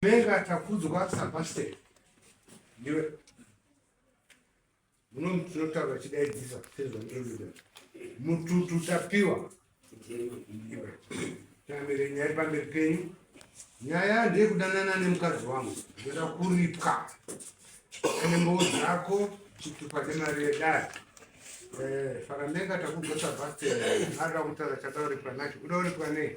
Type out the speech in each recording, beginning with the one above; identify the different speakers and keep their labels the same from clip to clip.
Speaker 1: Mega Takudzwa Sebastian ndiwe munomu tinotaura chidaidzisa sezvandinoida mututu tapiwa tamire nyaya iri pamberi penyu nyaya ndeyekudanana nemukadzi wangu ndoda kuripwa ane mboo dzako chitupa nemari yedare eh, faramega takugosa bhaste arira kutaura chadauripwa nacho udauripwa nei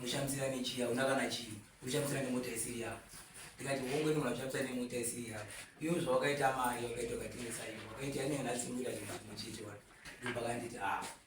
Speaker 2: unoshamisira nechiya una kana chii unoshamisira nemota isiri yako ndikati wongweni munhu achishamisa nemota isiri yako iyo zvawakaita mari wakaita ukatengesa iyo wakaita yanenhasi muita zvinhu chete wani ndopakanditi a ah.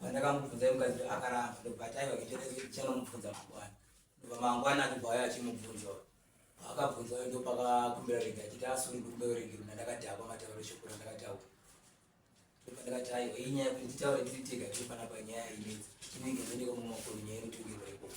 Speaker 2: Pandakamubvunza iye mukadzi akaramba ndobva ati aiwa kuita kuti ndichanomubvunza mangwana. Ndobva mangwana achibva auya achimubvunza uyu. Paakabvunza uyu ndopakakumbira rege achiti asuri kukumbira urege mna ndakadhakwa matauro eshoko randakataura. Ndobva ndakati aiwa iyi nyaya yekuti nditaure tiri tega tiri panapa nyaya inetsa. Chinenge zvinenge mumwe wakuru nyaya inotongirwa ikoko.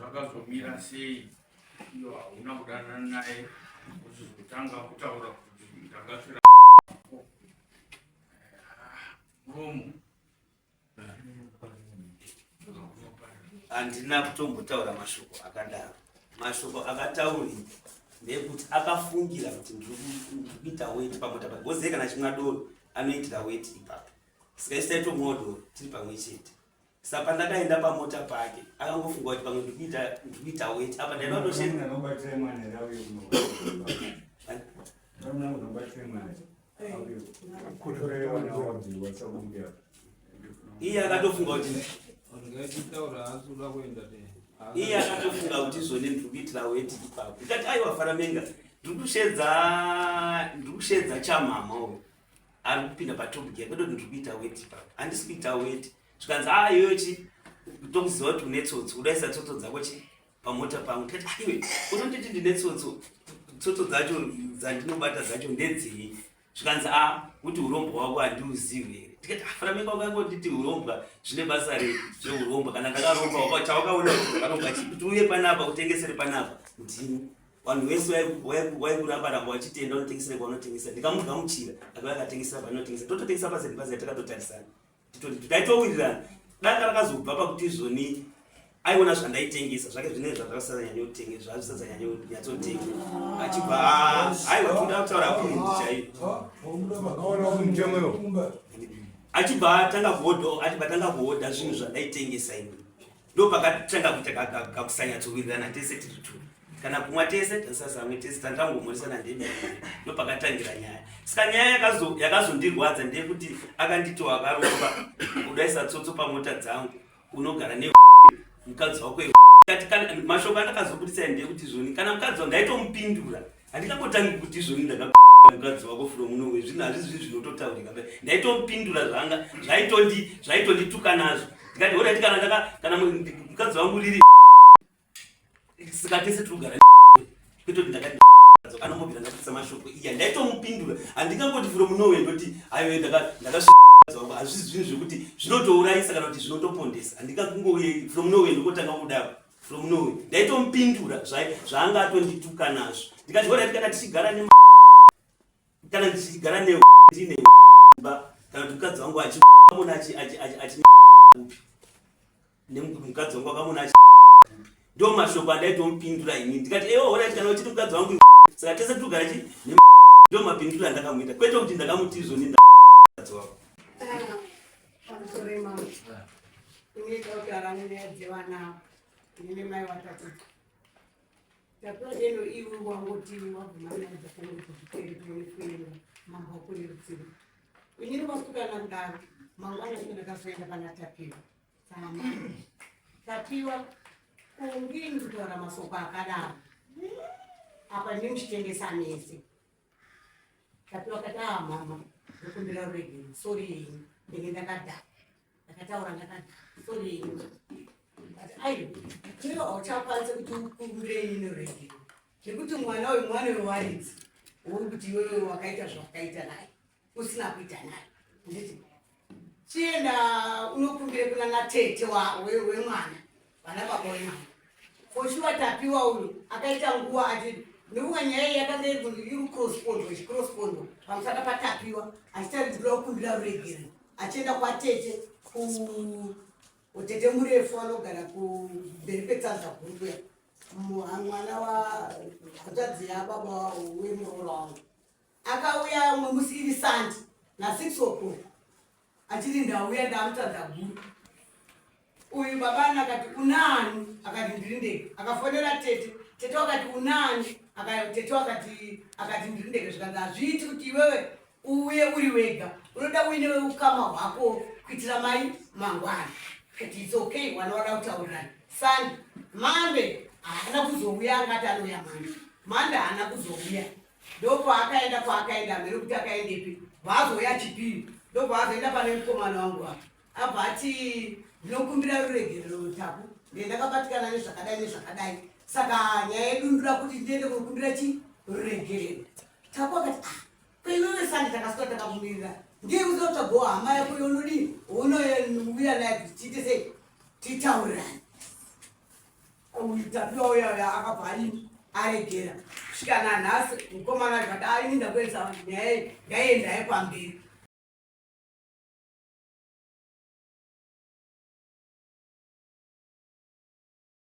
Speaker 3: zvakazomira
Speaker 4: sei iyo hauna kudanana naye uchizotanga kutaura kuti ndakasvira muromo
Speaker 5: handina kutombotaura mashoko akadaro mashoko akatauri ndekuti akafungira kuti ndikuita weti pamota pa goze kana chimwa doro anoitira weti ipapo saka isaitomuwa doro tiri pamwe chete sa pandakaenda pamota pake akangofunga kuti pamwe ndikuita weti apa ndaivatoshe iye akatofunga kuti iye akatofunga kuti izvone ndiri kuitira weti ipapo ndikati aiwa faramenga ndiri kushedza ndiri kushedza chamama uyo ari kupinda patopic yake ndoti ndiri kuita weti ipapo handisi kuita weti zvikanzi a ah, iyochi tokuziva kuti une tsotsi udaisa tsotso dzako chi pamota pangu tati ah, iwe unonditi ndine tsotso tsotso dzacho dzandinobata dzacho ndedzei zvikanzi a ah, kuti urombo hwako handiuzivi here tikati afana ah, menga wakangonditi urombwa zvine basa re zveurombwa kana ndakaromba wako chawakaona varombwa chii kuti uye panapa utengesere panapa ndini vanhu vese vaikurambaramba vachitenda unotengesere kwaunotengesera ndikamugamuchira akava akatengesera panotengesa tototengesa paseni pazai takatotarisana taitowirirana danga rakazobva pakuti izvoni aiona zvandaitengesa zvake zvine zvazvakasazanyanya utenge zvazvisazanyanya nyatsotenga achibva aiwa toda kutaura kundi chaiyo achibva atanga kuhodha achibva atanga kuhodha zvinhu zvandaitengesa ini ndopakatanga kuita kakusanyatsowirirana tese tiri two kana kumwa tese tasazamwe tese tandangomoresana ndemi ndopakatangira nyaya saka nyaya yakazondirwadza ndeyekuti akanditiwo akaromba kudaisa tsotso pamota dzangu unogara ne mukadzi wako mashoko andakazobudisa ndeyekuti zvoni kana mukadzi wa ndaitomupindura Handingambotangi kuti izvoni ndaka mukadzi wako from noway zvinhu hazvizi zvinhu zvinototaurika be ndaitomupindura zvanga zvaitondi zvaitondituka nazvo ndikati horaiti kana ndaka kana mukadzi wangu riri saka tese tiri kugara kwete kuti ndakati anombobvira ndakuisa mashoko iya ndaitomupindura handingangoti from noway ndoti aiwe ndaka ndaka wangu hazvizi zvinhu zvekuti zvinotourayisa kana kuti zvinotopondesa handingakungouye from noway ndikotanga kudaro from nowe ndaitomupindura zvaanga atondituka nazvo ndikati horaiti kana tichigara ne kana ndichigara ne ndine ba kana kuti mukadzi wangu achiamona achi upi nemukadzi wangu akamona achi ndo mashoko andaitomupindura ini ndikati ewo horaiti kana uchiti mukadzi wangu saka tese togara chi ndo mapindura andakamuita kwete kuti ndakamuti izvoni ndakadzi wako Panotorema unoita kuti arane nyaya dzevana
Speaker 6: nene mai watakuti tapiwa deno iwe wangoti wabvuma nyaya dzakange kuchiperi kunonefuira mambo akuri rutsiro unyiri vasikana mdaro mangwana ine ndakazoenda pana tapiwa sama tapiwa kungini kutaura masoko akadaro apa ndimuchitengesa mese Tapiwa kati aa mama ndokumbira ruregero sori yenyu ndenge ndakadhaka ndakataura ndakadhaka sori yenyu kati aiwa chero hauchakwanise kuti ukumbire inini ruregero nekuti mwana uyu mwana wewaridzi uri kuti iwewe wakaita zvawakaita naye usina kuita nayo nditi chienda unokumbire kuna natete wemwana vana baba wemwana foshuwa tapiwa uyo akaita nguva ati nekuva nyaya iyi yakanga iri kuti iri crosspondo chicrosspondo pamusaka patapiwa achitaridzira kukumbira ruregero achienda kwatete kutete murefu anogara kumberi kwetsanza guru kuya mwana wa hatadzi yababa wemuroora wangu Akauya umwe musi iri sandi na six o'clock achiri ndauya ndamutadza guru uyu babana akati unani akati ndiri ndege akafonera tete tete wakati unani tete wakati akati ndiri ndege zvikanzi hazviiti kuti iwewe uye uri wega unoda uine weukama hwako kuitira mai mangwana kati its okay wanoona kutaurira sandi mande haana kuzouya angati anouya mande mande haana kuzouya ndokwaakaenda kwaakaenda mberi kuti akaendepi vaazouya chipiri ndokwaazoenda pane mukomana wangu wa abva ati ndinokumbira ruregerero rutaku ndee ndakabatikana nezvakadai nezvakadai saka nyaya yedundura kuti ndiende kunokumbira chi ruregerero taku akati ah kweiwewe sandi takasuka takamumirira ndiye kuzotagoa hama yako yonodii unoya naye kuti tiite sei titaurirani uyu tapiwa uya uya akabva aini aregera kusvika nanhasi mukomana zvada aini ndakuedza nyaya ndaienda yepamberi